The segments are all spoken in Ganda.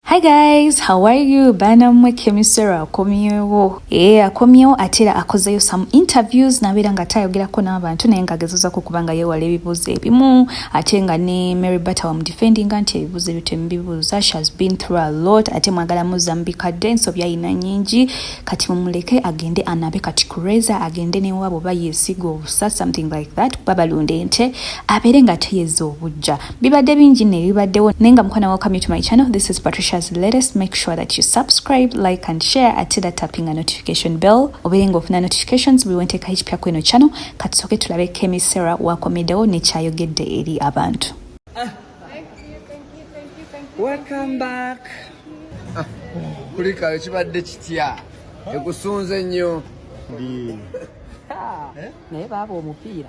Hi guys, how are you? Bana mwe kemisera akomyewo. Eh, akomyewo atira akozeyo some interviews nabira nga tayogerako n'abantu naye nga agezoza ku kubanga yewala ebibuuzo ebimu ate nga ne Mary Bata wa mudefending nti ebibuuzo ebyo temubibuuza. She has been through a lot ate mwagala muzambika dde ensobi alina nyingi kati mumuleke agende anabe kati kureza agende ne wabo bayesiga obusa something like that kuba balunda ente abeere nga teyeza obujja. bibadde bingi nno ebibaddewo naye nga mukwana welcome to my channel this is patricia's latest make sure that you subscribe like and share ate era tapping a notification bell obeere nga ofuna notifications buli wenteeka ekipya ku eno channel katusooke tulabe kemi sarah wakomeddewo nekyayogedde eri abantu welcome back ah, kulikayo kibadde kitya ekusunze nnyo naye baaba omupiira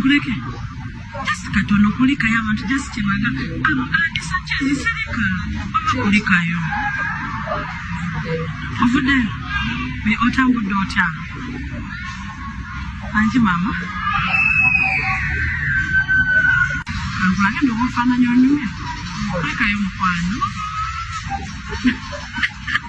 kuleke just katono kulikayo abantu just kyebaga abo andisa kyezisirika oba kulikayo ovude otambudde otya anji mama ankulage ndobaofaananya onyumya kulikayo mukwano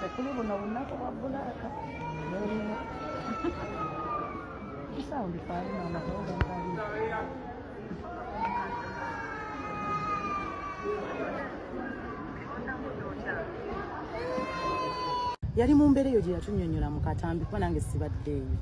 tekuli buno bunaku bwa bulaaka nolina kisawundi faalina amatondo ngali yali mu mbeera eyo gye yatunyonyola mu katambi kuba nange sibaddeeyo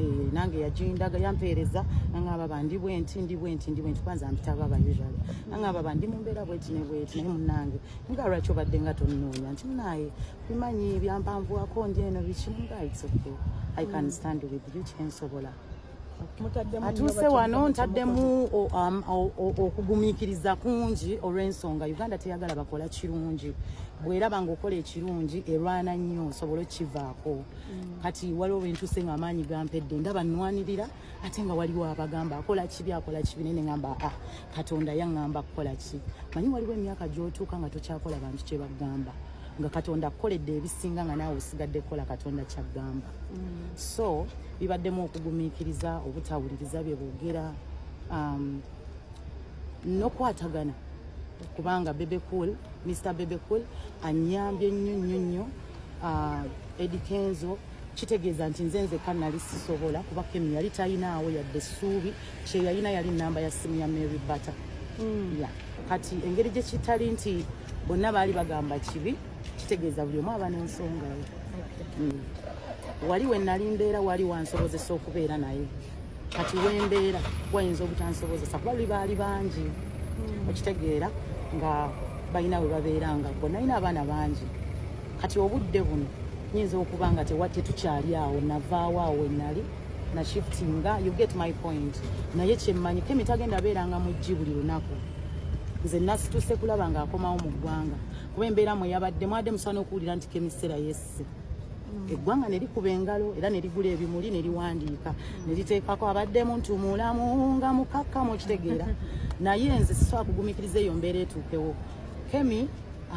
eh, nange yagindaga yampeereza nangaba bandi bwenti ndi bwenti ndi bwenti kwanza mpita baba usual nangaba bandi mu mbeera bweti ne bweti naye munange nga lwaki obadde nga tonnoonya nti munaaye bimanyi byampanvuwako ndi eno biki nga it's okay i can mm. stand with you kyensobola atuuse wano ntaddemu um, okugumiikiriza kungi olw'ensonga uganda teyagala bakola kirungi bweraba nga okola ekirungi erwana nnyo osobola okukivaako mm. kati waliwo wentuuse nga amaanyi gampedde ndaba nnwanirira ate nga waliwo abagamba akola kibi akola kibi naye neŋamba a ah, katonda yaŋŋamba kukola ki manyi waliwo emyaka gy'otuuka nga tokyakola bantu kye bagamba nga katonda akukoledde ebisinga nga naawe osigadde kukola katonda kyagamba mm. so bibaddemu okugumiikiriza obutawuliriza bye boogera um, nokwatagana kubanga bebe cool mr bebe cool anyambye nnyo nnyo nnyo uh, edikenzo kitegeeza nti nze nzekka nali sisobola kuba kemi yali talinaawo yadde essuubi kyeyalina yali namba ya simu ya mary butter mm. yeah. kati engeri gye kitali nti bonna baali bagamba kibi kitegeeza buli omu aba n'ensonga ye mm. wali we nali mbeera wali wansobozesa okubeera naye kati wembeera wayinza obutansobozesa kuba luli baali bangi hmm. okitegeera nga balina we babeera nga gwe nalina abaana bangi kati obudde buno nyinza okuba nga tetukyali awo navaawo awo wenali na shifting nga you get my point naye kyemmanyi kemi tagenda beeranga mu ggi buli lunaku nze nasituse kulaba ng'akomawo mu ggwanga kuba embeera mwe yabadde mwade musobola n'okuwulira nti kemisera yesse yes. eggwanga ne likuba engalo era ne ligula ebimuli ne liwandiika ne liteekako abaddemu nti mulamu nga mukakkamu okitegeera naye nze sisobola kugumikiriza eyo mbeera etuukewo kemi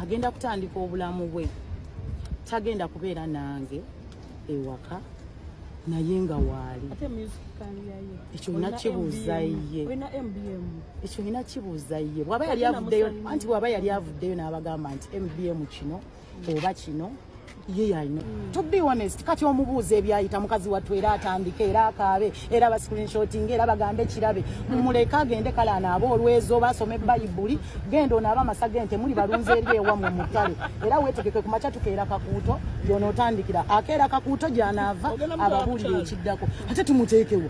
agenda kutandika obulamu bwe tagenda kubeera nange ewaka naye nga waali ekyo nina kibuuza ye ekyo nina kibuuza ye bwaba yali avuddeyo anti bwaba yali avuddeyo n'abagamba nti mbm kino oba kino ye yalina mm. to be honest kati omubuuza ebyayita mukazi wattu era atandike era akaabe era bascreenshoting era bagambe kirabe mumuleke agende kale anaaba olwezo oba asome bayibuli genda onaaba amasa gente muli balunzi eri ewamwe mutale era wetegeke ku makya tukeera kakuuto yonootandikira akeera kakuuto gyanaava ababuulire ekiddako ate tumuteekewo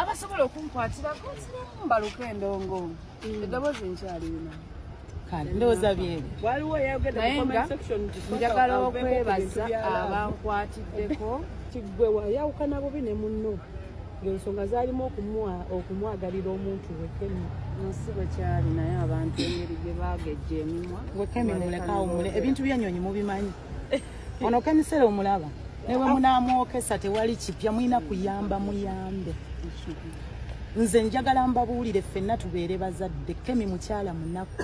abasobola okunkwatirako nsiramu mbaluka endongo mm. eddoboozi nkyalirina kale ndowooza byebyo waliwo naye nga njagala okwebaza abankwatiddeko kiggwe wayawukana bubi ne munno ng'ensonga zaalimu okumwagalira omuntu wekemi nsi bwe kyali naye abantu engeri gye baagejja emimwa wekemi mulekawumule ebintu byanyonyi mubimanyi Ono kemisera omulaba ne bwe munaamwokesa tewali kipya mulina kuyamba muyambe nze njagala mbabuulire ffenna tubeere bazadde kemi mukyala munaku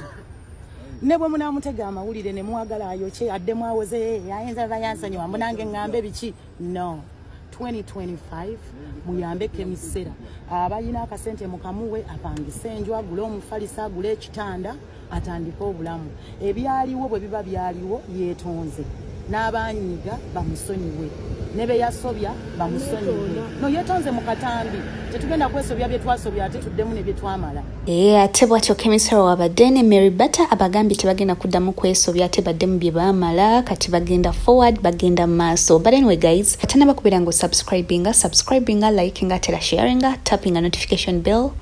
ne bwe munaamutega amawulire ne mwagala ayokye addemu awoze ayinza ba yansonyiwa mbu nange ŋŋambe biki no 2025 muyambe kemisera abalina akasente mukamuwe apangise enju agule omufalisa agule ekitanda atandike obulamu ebyaliwo bwe biba byaliwo yeetonze n'abanyiiga bamusonyiwe ne be yasobya bamusonyiwe no yeetonze mu katambi tetugenda kwesobya bye twasobya ate tuddemu ne bye twamala ee eh, ate bwatyo kemisaro wabadde ne mary batter abagambye tebagenda kuddamu kwesobya ate baddemu bye baamala kati bagenda forward bagenda mu maaso but anyway guys atanaba kubeera nga osubscribinga subscribinga likinga tera sharinga tappinga notification bell